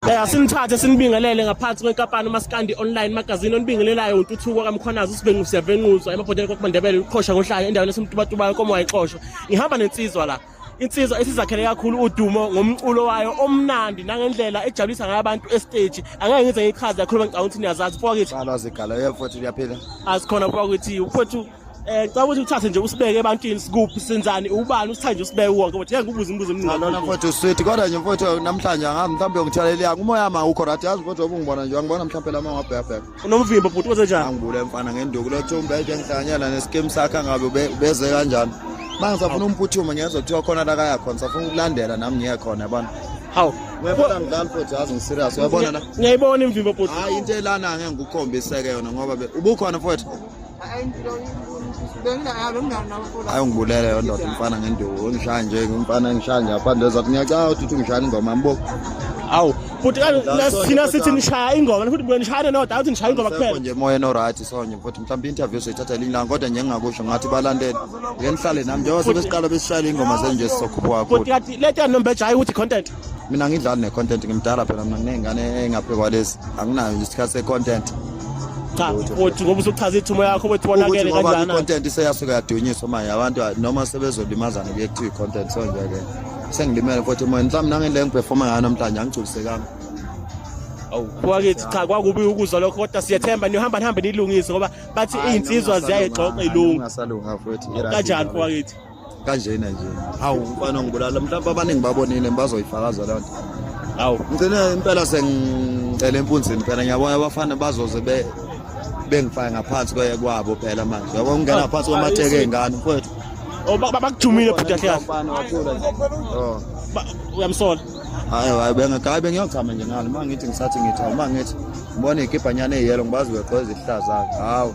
Eh asinithathe sinibingelele ngaphansi kwenkampani uMaskandi Online magazine onibingelelayo uNtuthuko kaMkhwanazi uSibengu siyavenquzwa emabhodeni kokuMandebele uqhosha ngohlanya endaweni esemtubatubayo komo wayixoshwa ngihamba nensizwa la insizwa esizakhele kakhulu udumo ngomculo wayo omnandi nangendlela ejabulisa ngayo abantu estage angeke ngize ngichaze yakhuluma ngicabanga ukuthi niyazazi mfoka kithi Balo azigala yefowethu uyaphila asikhona mfoka kithi mfowethu Eh caba ukuthi uthathe nje usibeke ebantwini sikuphi senzani ubani usithathe nje usibeke wonke ukuthi ngeke ubuze imibuzo eminingi. Lona mfowethu sweet kodwa nje mfowethu namhlanje ngami mhlawumbe ngithalela umoya ma ukho right yazi mfowethu obungibona nje angibona mhlawumbe lama ngabheka bheka. Unomvimbo bhuti wenze njani? Angibule mfana ngenduku lo Thumbe nje ngihlanyela neskim sakhe ngabe ubeze kanjani. Manje ngisafuna umphuthuma ngiyezwa kuthiwa khona la kaya khona safuna ukulandela nami ngiye khona yabona. hawu uyabona mdlali futhi yazi ngiserious uyabona la ngiyayibona imvimbo bhuti hayi into elana ngeke ngikukhombiseke yona ngoba ubukhona futhi hayi ungibulele yo ndoda umfana ngenduku ungishaya nje umfana engishaya nje apha ndoza ukuthi ngiyacaka ukuthi uthi ungishaya ingoma yambo awu futhi thina sithi nishaya ingoma futhi buye nishayane noda awuthi nishaya ingoma kuphela nje moya enoryt sonye futhi mhlawumbe i-interview soyithatha elinye langa kodwa nje ngingakusho ngathi balandele ngenihlale nami njengoba sebesiqala besishayela iy'ngoma zenje sizokhuphuka futhi kati le tyanombeja hayi ukuthi content mina ngidlali ne-content ngimdala phela mina nginey'ngane engaphe kwalezi anginayo nje isikhathi se-content cha uthi ngoba usuchaza ithumo yakho ukuthi wonakele kanjani i-content iseyasuke yadunyiswa manje abantu noma sebezolimazana kuye kuthiwa i-content so nje-ke sengilimele futhi moya mhlawumbe nangile ngiperforma ngayo namhlanje angigculisekanga wakithi cha kwakubi ukuzwa lokho kodwa siyethemba nihamba nihambe nilungise ngoba bathi iy'nsizwa ziyayigxoxa ilungu kanjani wakithi kanjena nje hawu mfana ngibulala mhlawumbe abaningi babonile bazoyifakaza loo nto hawu ngigcine impela sengicela empunzini phela ngiyabona abafana bazoze be bengifake ngaphansi kwabo phela manje yabo ngingena ngaphansi kwamatheke ey'ngane mfowethu oh, bakujumile bhuti kahle kahle oh. uyamsola hayi hayi bengayi bengiyochama nje ngalo uma ngithi ngisathi ngithi uma ngithi ngibona iy'kibhanyana eyiyelo ngibazi weqo ezihlaza-ke hawu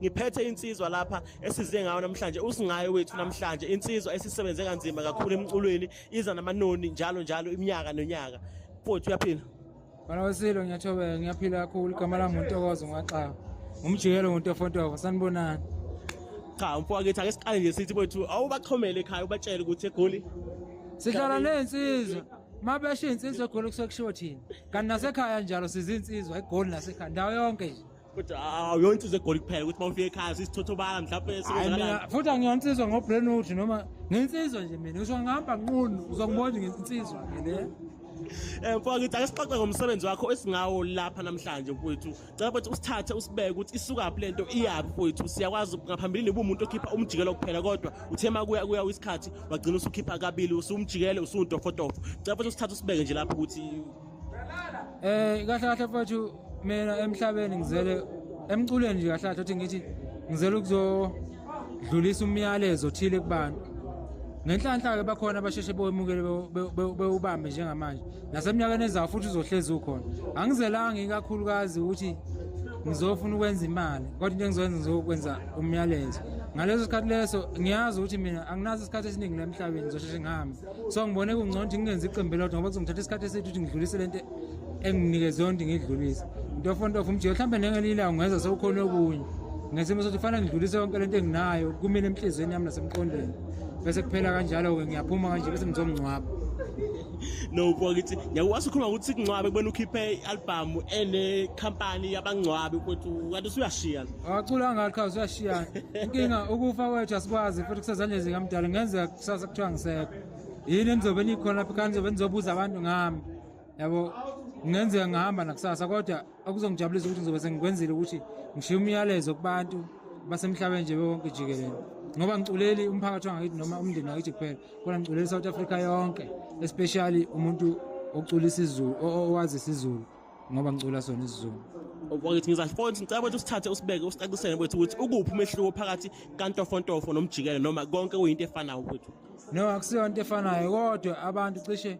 ngiphethe insizwa lapha esize ngayo namhlanje usingaye wethu namhlanje insizwa esisebenze kanzima kakhulu emculweni iza namanoni njalo njalo iminyaka nonyaka futhi uyaphila Bana wesilo ngiyathobeka ngiyaphila kakhulu igama lami untokozo ngwaxaba umjikelo nguntofontofo sanibonani cha umfo wakithi ake siqale nje sithi kwethu awubaxhomele ekhaya ubatshele ukuthi egoli sihlala nensizwa mabesho insizwa egoli kusekushiwo thina kanti nasekhaya njalo sizinsizwa egoli nasekhaya ndawo yonke nje kodwa awuyona insizwa egoli kuphela ukuthi uma ufika ekhaya sisithothobala mhlawumbe futhi angiyona insizwa ngobrenout noma ngensizwa nje mina ngisho ngihamba nqunu uzongibona ngensizwa mina Eh mfowethu ngithi akesixoxe ngomsebenzi wakho esingawo lapha namhlanje mfowethu. Cela ukuthi usithathe usibeke ukuthi isuka phi lento iyaphi mfowethu. Siyakwazi ngaphambilini ubumuntu okhipha umjikelo kuphela kodwa uthe makuya kuya isikhathi wagcina usukhipha kabili usumjikele usuntofotofo. Cela ukuthi usithathe usibeke nje lapha ukuthi Eh kahle kahle mfowethu mina emhlabeni ngizele emculweni nje kahle kahle uthi ngithi ngizele ukuzodlulisa umyalezo othile kubantu ngenhlanhla ke bakhona abasheshe bewemukele bewubambe njengamanje naseminyakeni ezayo futhi uzohlezi ukhona angizelanga ikakhulukazi ukuthi ngizofuna ukwenza imali kodwa into engizoyenza ngizokwenza umyalezo ngaleso sikhathi leso ngiyazi ukuthi mina anginaso isikhathi esiningi la emhlabeni ngizosheshe ngihambe so ngibone kungcono ukuthi ngingenzi iqembu elodwa ngoba kuzongithatha isikhathi esithi ukuthi ngidlulise le nto enginikeze yona ukuthi ngidlulise ntofontofo umjika mhlawumbe nengelinye ilanga ngenza sewukhona okunye ngesimo sokuthi kufanele ngidlulise yonke le nto enginayo kumina emhliziyweni yami nasemqondweni bese kuphela kanjalo-ke ngiyaphuma kanje bese ngizomngcwaba no bakithi ngiyakwazi ukhuluma ukuthi sikungcwabe kubona ukhiphe i-album enekhampani yabangcwabi ukuthi kanti usuyashiya awacula ngalo qhaza usuyashiya inkinga ukufa kwethu asikwazi futhi kusezandleni zikamdala kungenzeka kusasa kuthiwa ngisekho yini enizobe nikhona lapha ekhaya nizobe nizobuza abantu ngami yabo kungenzeka ngihamba nakusasa kodwa okuzongijabulisa ukuthi ngizobe sengikwenzile ukuthi ngishiye umyalezo kubantu basemhlabeni nje bewonke jikelele ngoba ngiculeli umphakathi wangakithi noma umndeni wakithi kuphela kodwa ngiculeli i-south africa yonke especially umuntu oculisa izulu owazi isizulu ngoba ngicula sona isizulu wakithi ngizafoni ngicela ukuthi usithathe usibeke usicacisele kwethu ukuthi ukuphi umehluko phakathi kantofontofo nomjikelo noma konke kuyinto efanayo kwethu no akusiyo into efanayo kodwa abantu cishe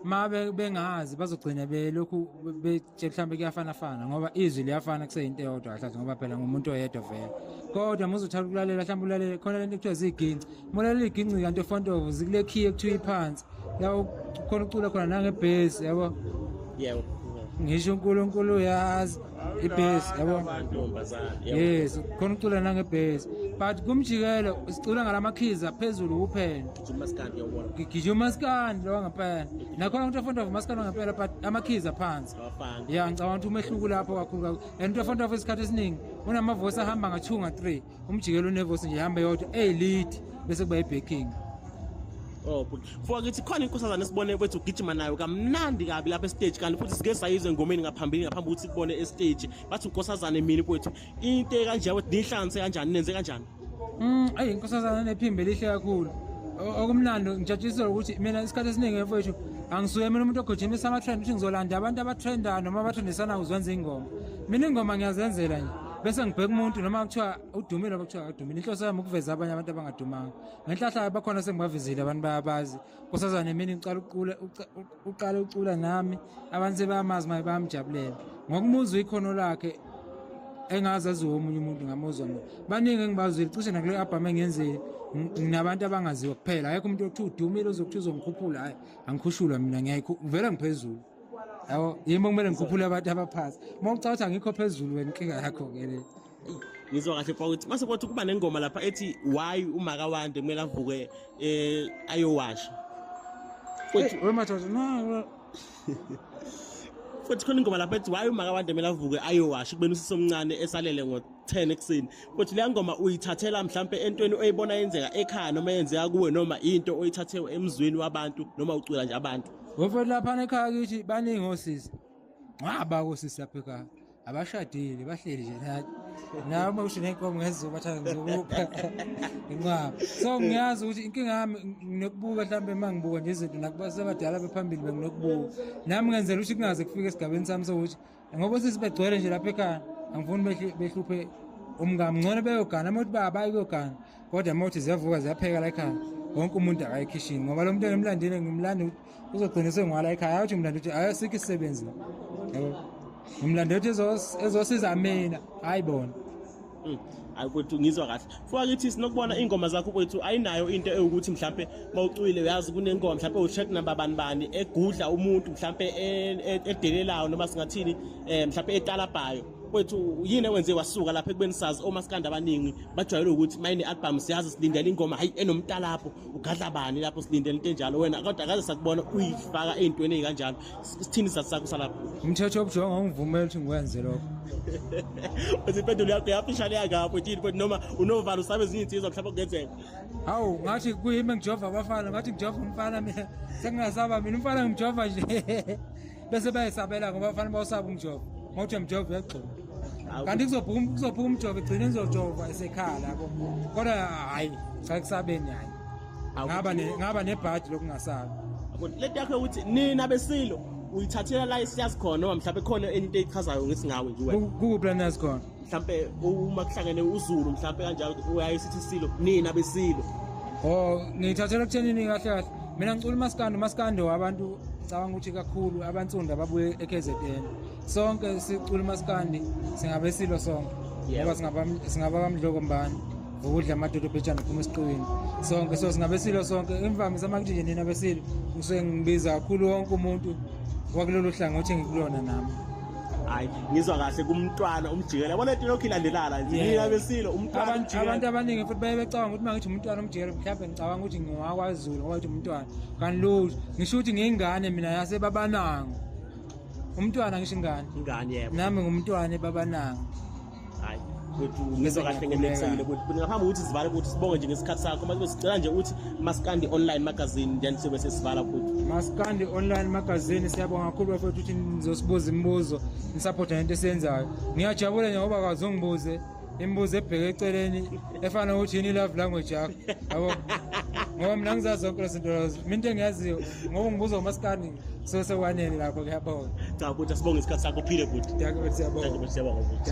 ma bengazi bazogcina belokhu betshe mhlawumbe kuyafanafana ngoba izwi liyafana kuseyinto eyodwa kahlathi ngoba phela ngumuntu oyedwa vele kodwa muze uthanda ukulalela mhlawumbe ulalele khona lento kuthiwa ziyiginci mulalela iginci kanti ofontovo zikulekhiye kuthiwa iphansi la khona ucula khona nangebhesi yabo yebo ngisho uNkulunkulu uyazi ibhesi yabo yes khona ucula nangebhesi but kumjikelo sicula ngalamakhiza phezulu kuphela gijima umaskandi lowa ngempela nakhona umuntu ofunda umaskandi wangempela but amakhiza phansi ya ngicabanga ukuthi umehluko lapho kakhulu and umuntu ofunda isikhathi esiningi unamavosi ahamba nga-two nga-three umjikelo unevosi nje ihamba yodwa eyilid bese kuba ibacking Oh bhuti. Fuwa kithi khona inkosazana esibone kwethu ugijima nayo kamnandi kabi lapha estage kanti futhi sike sayizwe ngomeni ngaphambili ngaphambi ukuthi kubone estage. Bathi unkosazane mina kwethu. Into kanje ukuthi nihlanganise kanjani nenze kanjani? Mm, ayi inkosazana nephimbe lihle kakhulu. Okumlando ngijatshisela ukuthi mina isikhathi esiningi mfowethu angisuye mina umuntu ogijimisa ama-trend ukuthi ngizolanda abantu abatrendana noma abatrendisanako uzwenza ingoma. Mina ingoma ngiyazenzela nje. bese ngibheka umuntu noma kuthiwa udumile noma kuthiwa akadumile inhloso yami ukuveza abanye abantu abangadumanga ngenhlahlayo bakhona sengibavezile abantu bayabazi kusaza nemini ngiqala uqule uqale ucula nami abantu sebayamazi maye bayamjabulela ngokumuzwa ikhono lakhe engazi aziwe omunye umuntu ngamuzwa mina baningi engibazwile cishe nakule albhamu engenzile nginabantu abangaziwa kuphela akekho umuntu okuthiwa udumile ozokuthiwa uzongikhuphula hhayi angikhushulwa mina ngiyayikhu ngivele ngiphezulu yabo yimi okumele ngikhuphule abantu abaphansi uma ucabanga ukuthi angikho phezulu wena inkinga yakho-ke le ngizwa kahle kwa ukuthi mase kwathi kuba nengoma lapha ethi why umaka wande kumele avuke eh ayowasha futhi wemadoda no futhi khona ingoma lapha ethi why umaka wande kumele avuke ayowasha kubena usisi omncane esalele ngo 10 ekuseni futhi leya ngoma uyithathela mhlambe entweni oyibona yenzeka ekhaya noma yenzeka kuwe noma into oyithathewe emzweni wabantu noma ucula nje abantu Wefethu laphana ekhaya kithi baningi osisi. Ngaba kosisi lapha ekhaya. Abashadile bahleli nje nathi. Nawe uma usho nenkomo ngezizoba thana ngizokupha. Inqaba. So ngiyazi ukuthi inkinga yami nginokubuka mhlambe uma ngibuka nje izinto nakuba sebadala bephambili benginokubuka. Nami ngenzela ukuthi kungaze kufike esigabeni sami sokuthi ngoba sisi begcwele nje lapha ekhaya angifuni behluphe umngami ngcono beyogana uma uthi babayi kuyogana kodwa uma uthi ziyavuka ziyapheka la ekhaya wonke umuntu akayikhishini ngoba lo mntwana emlandile ngimlanda ukuthi uzogcina sengwala ekhaya ayothi umlanda ukuthi ayosikho isisebenzi yabo umlanda ukuthi ezosiza mina hayi bona Hmm, ayi kwethu ngizwa kahle fukakithi sinokubona iy'ngoma zakho kwethu ayinayo into ewukuthi mhlawumpe uma ucwile uyazi kunengoma mhlawumpe u-track number bani bani egudla umuntu mhlawumpe e-, e-, edelelayo noma singathini um mhlawumpe etalabhayo kwethu yini ewenze wasuka lapha ekubeni sazi omasikandi abaningi bajwayele ukuthi mayine album siyazi silindele ingoma hayi enomtalapho ugadla bani lapho silindele into enjalo wena kodwa akaze sakubona uyifaka ey'ntweni ey'kanjalo sithini isizathu sakho salapho umthetho obujonga ungivumela ukuthi ngikwenze lokho uthi impendulo yakho yafishane yakapho tini but noma unovalo usabe ezinye insizwa mhlawumbe kungenzeka hawu ngathi kuyimi engijova abafana ngathi ngijova umfana mina sengingasaba mina umfana ngimjova nje bese bayesabela ngoba abafana bawusaba umjova ngokuthi mjova uyagxuma kanti kuzophuma kuzophuma umjova igcine ngizojova esekhala yabo kodwa hhayi cha kusabeni hhayi ngaba ne ngaba nebhadi lokungasabi lento yakho ukuthi nina besilo uyithathela la isiyazi khona noma mhlawumbe khona enye into eyichazayo ngesingawe nje wena kukuphi lana yazi khona mhlawumbe uma kuhlangene uzulu mhlawumbe kanjalo uyaye sithi silo nina besilo oh ngiyithathela kuthenini kahle kahle mina ngicula umaskandi umaskandi wabantu ngicabanga ukuthi kakhulu abansundu ababuye eKZN sonke isicula umaskandi singabe silo sonke ngoba singaba bamdloko mbani ukudla amadoda obhejana phuma esiqiwini sonke so singabe silo sonke imvamisa uma kuthi nje nina besilo ngisuke ngibiza kakhulu wonke umuntu wakulolu hlangothi engikulona nami hayi ngizwa kahle kumntwana umjikela yabona into lokhu ilandelana nje nina besilo umntwana abantu abaningi futhi baye becabanga ukuthi uma ngithi umntwana umjikela mhlawumbe ngicabanga ukuthi ngiwakwazulu ngoba ukuthi umntwana kanti lutho ngisho ukuthi ngiyingane mina yasebabanango umntwana ngisho ingane ingane yebo nami ngumntwana ebabananga hayi kwethu ngizwa kahle ngenekusayile kwethu but ngaphambi ukuthi sivale ukuthi sibonge nje ngesikhathi sakho manje besicela nje ukuthi maskandi online magazine then sobe sesivala futhi maskandi online magazine siyabonga kakhulu bafethu ukuthi nizosibuza imibuzo nisapotha nento esiyenzayo ngiyajabula nje ngoba kazi ungibuze imibuzo ebheke eceleni efana nokuthi yini love language yakho yabo ngoba mina ngizazi zonke lezi zinto lezo mina into engiyaziyo ngoba ngibuza umasikandi so sekwanele lapho kuyabonga cha bhuti asibonge isikhathi sakho phile bhuti Dankie bhuti, siyabonga. Dankie bhuti, siyabonga bhuti